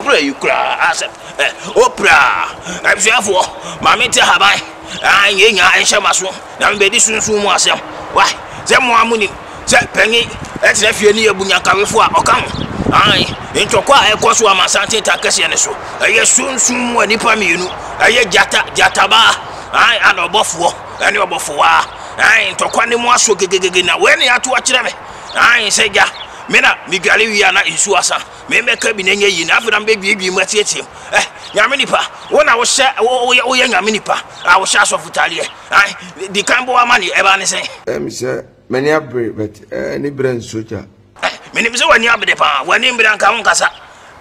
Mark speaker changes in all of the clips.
Speaker 1: Pira yi koraa asɛm ɛ o pira abusuafoɔ ma me te haban aa nyɛ nya nhyɛ ma so na me bɛ di sunsun mu asɛm wai sɛ mo a mo nim sɛ panyin ɛtena fie ne yɛ bu nyankawefoɔ a ɔka ho ae ntɔkwa a ɛkɔ so ama santen ta kɛseɛ ne so ɛyɛ sunsun mu a nipa mmienu ɛyɛ gyata gyatabaa ae ana ɔbɔfoɔ ɛne ɔbɔfowaa ae ntɔkwa ne mu aso gegegege na wei ne ato akyerɛ me ae sɛ gya me na me dware wie a na nsuo asa Me bɛka bi na ɛnyɛ yie na afei na mebɛduadua mu atietie mu ɛ eh, nyame nipa wo na wohyɛ woyɛ woyɛ nyame nipa a wohyɛ asɔfo tadeɛ ae di kan bɔ ama ne ɛbaa ne sɛn. ɛm sɛ m'ani
Speaker 2: abere but ɛɛ ne berɛ nsogya. Eh, menim sɛ w'ani
Speaker 1: abere paa w'ani mbere anka wo nkasa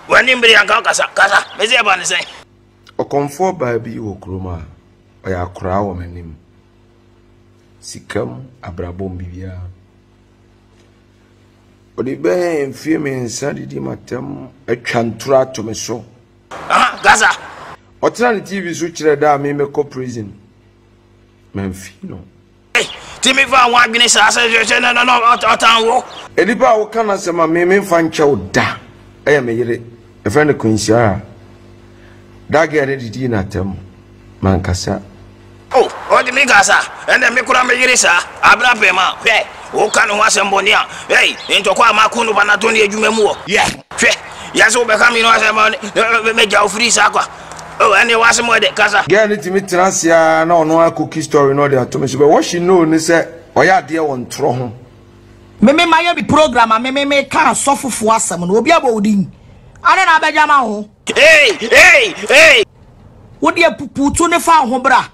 Speaker 1: w'ani mbere anka wo kasa kasa me sɛ ɛbaa ne sɛn. ɔkɔmfoɔ
Speaker 2: baa bi wɔ kurom a ɔyɛ akoraa wɔ m'anim sikam abrabɔ mu biribiara. Wɔde bɛyɛ mfeɛ mmiɛnsa didi m'atam atwa ntoro ato me so. Gaza. Ɔtena ne TV so kyerɛ da a me mɛkɔ prison. Mamfi no. Ti mi
Speaker 1: fa ho adwene saa sɛ hwehwɛ na na ɔtan wo. Nipa a woka n'asɛm
Speaker 2: a me memfa nkyɛ wo da ɛyɛ me yere. Ɛfrɛ no Quincy Ara. That girl ne didii n'atam. m'ankasa. O, ɔde
Speaker 1: me kasa, ɛnna me kora me yere saa, abere apem a, hwɛ, woka ne ho asɛm bɔne a, ei, ntɔkwa a mako no ba na to ne adwuma mu wɔ, yɛ, hwɛ, yɛ sɛ wobɛka me no asɛm bɔne, na magya wo firi saa kwa. O, ɛnneɛ w'asɛm wɔ de, kasa. Girl no tumi tena ase
Speaker 2: ara na ɔno ara cookie story no ɔde ato me so, but what she know ne sɛ ɔyɛ adeɛ wɔ ntorɔ ho. Me me
Speaker 3: mayɛ me program a me me meka asɔfofoɔ asɛm no, obi abɔ wo din? Ade na abɛgyama wo ho? Ei, ei, ei! Wode apupuutu ne fa wo ho bra.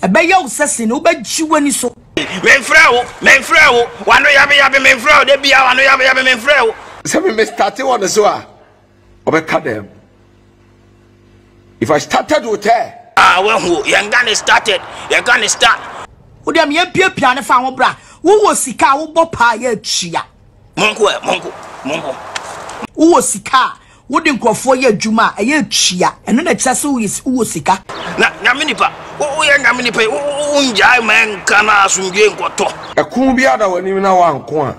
Speaker 3: Ɛbɛyɛ wo sɛ sene wobɛgye w'ani so. Memfrɛ wo, memfrɛ wo. W'ano yabeyabe memfrɛ wo. Da bia w'ano yabeyabe memfrɛ wo. Sɛ me me starte
Speaker 2: wɔ ne so a, ɔbɛka dɛm? If I started with her. Ah, wahu o, yɛn
Speaker 1: gane started, yɛn gane start.
Speaker 3: Wo deɛ meyɛ piapia ne fa ho bra. Wowɔ sika a wobɔ paa yɛ atua. Monko ɛ,
Speaker 1: monko, monko.
Speaker 3: Wowɔ sika a Wode nkurɔfoɔ yɛ adwuma a, ɛyɛ atua. Ɛno na ɛkyerɛ sɛ woyɛ wowɔ sika. Na Nyame nipa,
Speaker 1: wo wo yɛ Nyame nipa yi, wo wo wo ngyae ma ɛnka na asomdwoe nkɔtɔ. Ɛko biara da
Speaker 2: w'anim na wanko a,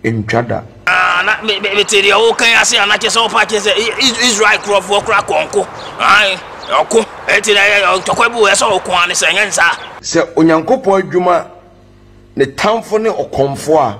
Speaker 2: ɛntwa da. Aah na me
Speaker 1: me mete deɛ woreka yi ase anaa kyerɛ sɛ wopa akyerɛ sɛ I I Israel nkurɔfoɔ koraa kɔ nko ae ɔko ɛnti na ɛyɛ ntɔkwa bi wɔ ɛsɛ ɔko ane sɛ ɛnyɛ ne saa. Sɛ Onyankopɔn
Speaker 2: adwuma ne tamfo ne ɔkɔmfoɔ a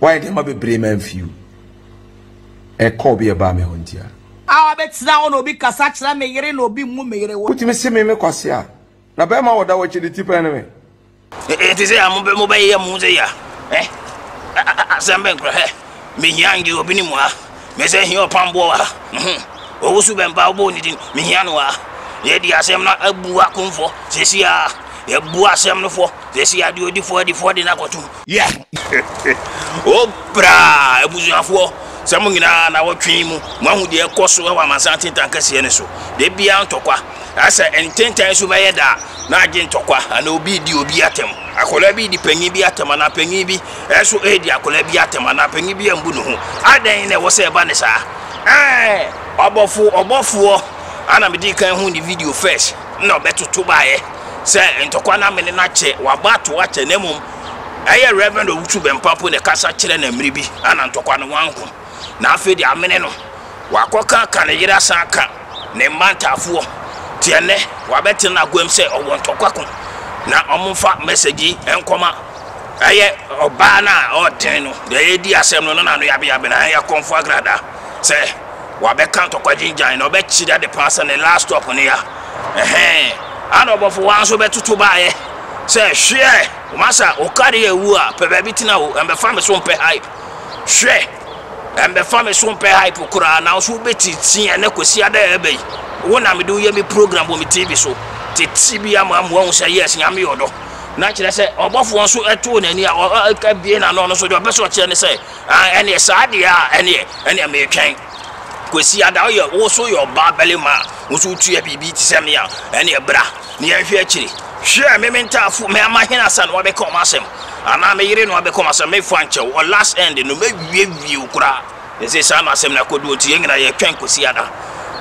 Speaker 3: Wayɛ nneɛma bebree
Speaker 2: ma mfe o. Ɛkɔ obi a ɛbaa me hɔ nti a. A wabɛtena
Speaker 3: hɔ na obi kasa kyerɛ me yere na obi mmu me yere wo. Wotumi se me me Kwasi a.
Speaker 2: Na bɛɛma a ɔda hɔ akyi de ti pɛn ne me. Ɛte sɛ
Speaker 1: a mobɛ mobɛyeyɛ mo ho sɛ ya eh. Asɛm bɛn kura eh. Mehia ngye obi ne mu ah. Mese hia ɔpamboɔ wɔ ha, mhm, Owusu Bɛmpa wobɔɔ ne din, mehia no wɔ ha Yɛadi asɛm no abu akomfoɔ, seesei ara Yɛabu asɛm no fɔ, seesei ara Deɛ ɔdi fɔ adi fɔ de no akɔtom, yeah Oh braa abusuafoɔ, sɛ mo nyinaa nawɔtwe yi mu moahu deɛ ɛrekɔ so wɔ amansan ntentan kɛseɛ no so Da biara ntɔkwa, sɛ ntentan so bɛyɛ da a na agye ntɔkwa Anaa obi redi obi atɛm, akwadaa bi redi panin bi atɛm anaa panin bi Ɛso edi akwadaa bi atɛm anaa panyin bi ambu ne ho? Adɛn na ɛwɔ sɛ ɛba ne saa? Ɛɛ, ɔbɔfo ɔbɔfoɔ a na medii kan hu ne video first na ɔbɛtoto baeɛ sɛ ntɔkwa no amene no akyɛ, wabɔ ato akyɛ, na mmom ɛyɛ Rev. Owusu Bɛmpa mpo na ɛkasa kyerɛ na mmere bi a na ntɔkwa no wanko. na afei de amene no, wakɔka aka ne yere asan aka ne mma ntaafoɔ te ɛnɛ wabɛtena n'aguam sɛ ɔwɔ ntɔkwako na ɔmfa message yi nkɔma ɛyɛ ɔbaa no a ɔden no deɛ yɛdi asɛm no na n'ano yabeyabe na ɛyɛ kɔmfo agrada sɛ wabɛka ntɔkwa gyingyan na ɔbɛkyerɛ ade paa sɛ ne last stop no ya ɛhɛn ana ɔbɔfo wa nso bɛtoto baayɛ sɛ hweɛ masa okari ewu a pɛ baabi tena o ɛmbɛfa me so mpɛ hype Hwɛ! Ɛmbɛfa me so mmpɛ hype koraa, naaso wobetsitsi hɛn ekosi ada a aba yi. Wo na mede wo yɛ me program wɔ me TV so. Tsetse bi ama ama woahu sɛ yes, Nyame yɛ ɔdɔ. Na kyerɛ sɛ ɔbɔfoɔ nso too n'ani a abue n'ano no so deɛ ɔpɛ sɛ ɔkyerɛ ne sɛ ah, ɛneɛ saa deɛ a ɛneɛ ɛneɛ meretwɛn Kwesi Ada woyɛ wo so yɛ ɔbaa barima a wo nso wotua biribi te sɛ me a ɛneɛ bra na yɛanhwɛ akyiri. Hwɛ a me me ntaafo, me amahene asa na wɔabɛka wɔn asɛm, anaa me yere na wɔabɛka wɔn asɛm, me fa nkyɛ wo, ɔ last end no, mɛwiewie wo koraa. Na ɛsɛ saa na asɛm no akɔdu, enti yɛn nyinaa yɛtwɛn kɔsi ada.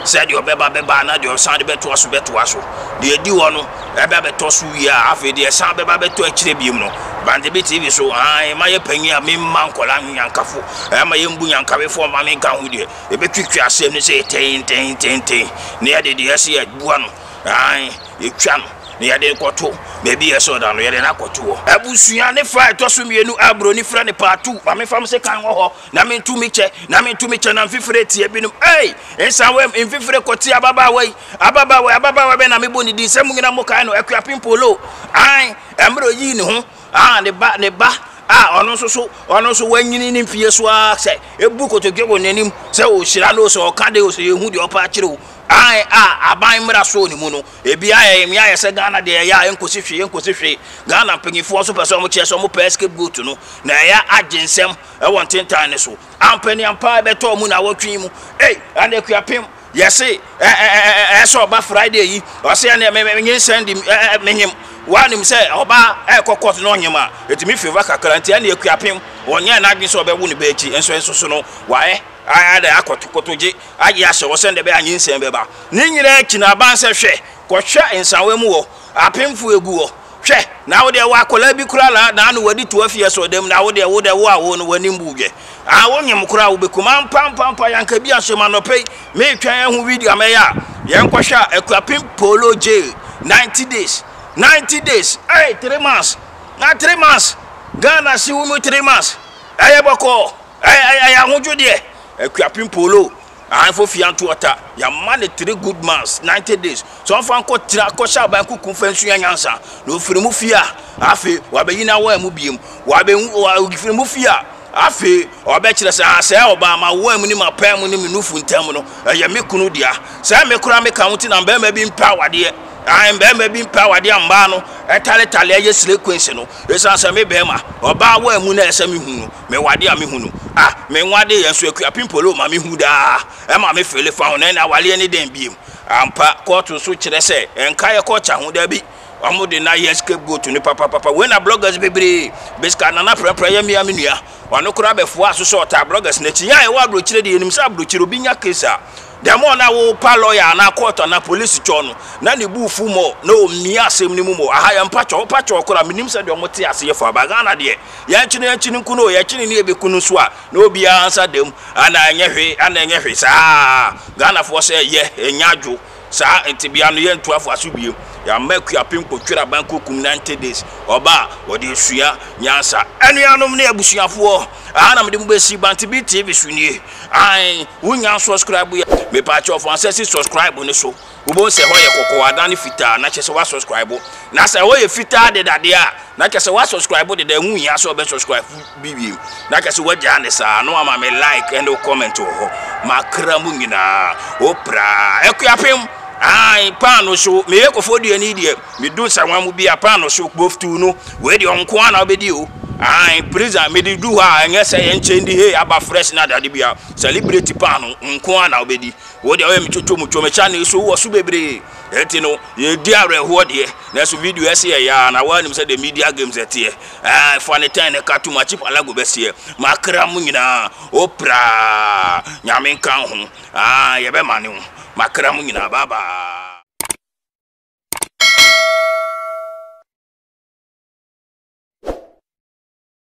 Speaker 1: Sɛ deɛ ɔbɛba bɛba na deɛ ɔsan de bɛtoa so bɛtoa so. Deɛ ɛdi hɔ no ɛba bɛtɔ so wie a, afei deɛ ɛsan bɛba bɛtɔ akyire biom no, Bantebi TV so, aane, mayɛ panyin a memma nkwadaa nwe nyankafo, ɛmma yɛmbu nyankawefoɔ mma menka ho deɛ, yɛbɛtwitwi asɛm no sei tee-ntee-ntee-ntee, na yɛde deɛ ɛsɛ yɛ abua no. Aane, yɛtwa no na yɛde no kɔto baabi a ɛsɔ da no, yɛde no akɔto hɔ. Abusua ne fa a ɛtɔ so mmienu a buroni frɛ no part two, ma memfa me sekan wɔ hɔ na mentu me kyɛ, na mentu me kyɛ na mfifire tia binom. Ei! Nsawam, mfifire kɔtia ababaawa yi, ababaawa yi, ababaawa bɛn na mebɔ ne din sɛ mo nyinaa mokae no, Akuapem Polo? Aane, mmerɛ ɔyii ne ho, ah, ne ba, ne ba a ɔno nso so, ɔno nso wanyini ne mfie so ara sɛ, ɛbu kotodwe wɔ n'anim sɛ ɔrehyira no o, sɛ ɔka dɛn o, sɛ yɛhu deɛ ɔpɛ akyerɛ o, Ae a aban mmara sɔɔ ne mu no, ebi ayɛ yɛn ya, ayɛ sɛ Ghana deɛ ɛyɛ a ɛnkɔsi hwee, ɛnkɔsi hwee. Ghana mpanyinfoɔ nso pɛ sɛ wɔkyerɛ sɛ wɔpɛ scapegoat no, na ɛyɛ agye nsɛm wɔ ntentan no so. Ampa ni ampa a ɛbɛtɔ wɔn nnawɔtwe yi mu. Ei, ɛnna Akuapem, yɛse ɛ ɛ ɛ ɛ ɛɛ sɛ ɔba Friday yi, ɔse ɛnneɛ me me nyinsɛn de ɛ ɛ menyem. Woanim sɛ ɔba ɛrekɔ court na ɔnyem a, ɛtumi favour kakra, nti ɛnneɛ Akuapem, ɔnyɛɛ n'adwene sɛ ɔbɛwo ne ba akyi, nso ɛnso so no, wayɛ, ayɛ dɛ akɔtokotogye. agye ahyɛ hɔ sɛnea ɛbɛyɛ a nyinsɛn bɛba. Ne nyinaa akyi no, aba no sɛ, Hwɛ, kɔhwɛ nsawa mu hɔ, apemfo agu hɔ. Hwɛ, na wo deɛ, wo akwadaa bi koraa na na ano wadi to afi asoɔdan mu, na wo deɛ, wo deɛ, wo a wowoo no, w'anim buu dwɛ. Aa, wonyem koraa, wobɛkum. Ampa, ampa, ampa, yɛanka bi anhyɛ mu. Anɔpa yi, meretwɛn ahu video a mɛyɛ a yɛnkɔhwɛ a, Akuapem Polo Jail, ninety days, ninety days, ei, three months, na three months, Ghana hye wo mu three months, ɛyɛ bɔkɔɔ, ɛyɛ, ɛyɛ, ɛyɛ ahodwodeɛ. Akuapem Polo, Ahenfo fie anto ɔta, yɛama no three good months, ninety days, sɛ ɔmfa nkɔtra kɔhyɛ aban kuku mfa nsua nyansa, na ɔfiri mu fie a, afei wabɛyi n'awaa mu biom, wafiri mu fie a, afei ɔbɛkyerɛ sɛ ah, sɛ ɔbaa m'awaa mu ne m'apaa mu ne me nufu ntam no, ɛyɛ me kunu dea. Sɛ me koraa meka ho nti na mmarima bi mpɛ awadeɛ, ae, mmarima bi mpɛ awadeɛ a mmaa no taletale yɛ slay queens no, ɛsiane sɛ me barima, ɔbaa awaa mu na ɛsɛ sɛ mehu no. Me wade a mehu no ah Me nwade yɛ nso akua pimpolo ma mehu daa Ɛma me fele fa ho na ɛna awaleɛ ne dɛn biem Ampa kɔɔto nso kyerɛ sɛ ɛnka yɛ kɔɔkya ho dabi Ɔmo de na yɛ scapegoat no papapapa Wei na bloggers bebree Biscar Nana prɛprɛ yɛ mea me nua Ɔno koraa bɛfoaa so sɛ ɔtaa bloggers no akyinnye a ɛwɔ abrokyire deɛ yɛnim sɛ abrokyire obi nya case a the more na wo pa lawyer anaa court anaa police kyɔɔ no na ne buu fu more na ɔmia asɛm no mu more Aha yɛ mpatwɔ wo patwɔ koraa menim sɛdeɛ ɔmo te aseɛ faa ba Ghana deɛ Yɛnkye no yɛnkye no nku no o, yɛkye no ne yɛbɛku no nso a, na obiara nsa da mu. Ana ɛnyɛ hwe, ana ɛnyɛ hwe. Saa ara, Ghanafoɔ sɛ yɛ, yɛnnya adwo. Saa ntebea no, yɛntu afa so bio. Yɛama Akuapem Kpotweraban Kokum Ninety Days, ɔba a ɔde asua nyansa. Anuanom ne abusuafoɔ, aha na mede mo bɛsi, Bantebe TV so nie. Aane, wonnya nsɔskraibo yɛ. Mepaakyɛw fa nsa si sɔskraibo no so. Wobɛhu sɛ hɔ yɛ kɔkɔɔ adane fitaa na kyerɛ sɛ woasɔskraibo. Na sɛ hɔ yɛ fitaa deda deɛ a, na kyerɛ sɛ woasɔskraibo deda, ɛho nhia sɛ wobɛsɔskraibo bi bio. Na kyerɛ sɛ woagyaa no saa na woama me like ne wo comment wɔ hɔ. M'akra mu nyinaa, wo praa. Akuapem, ae, paano hyew, meyɛ Kofoduani deɛ, medu nsawa mu bi a, paano hyew, kpoftuu no, wei deɛ ɔnko ara na wobɛdi o. Ae, Prison, mede du hɔ a, ɛnyɛ sɛ yɛnkyɛ ndi, hei, aba fresh ne adeade biara, celebrate paano nko ara na wobɛdi. Wo deɛ woyɛ me twotwo mu twom kya ne so wɔ so bebree ɛti no yɛdi awerɛhoɔ deɛ nanso video ɛsi yɛ yaa na woanim sɛ the media games ɛteɛ ɛɛ fa ne tɛn ne ka tom akyi palago bɛseɛ makra mu nyinaa o praa nyame nka ho aa yɛbɛma ne ho makra mu nyinaa babaa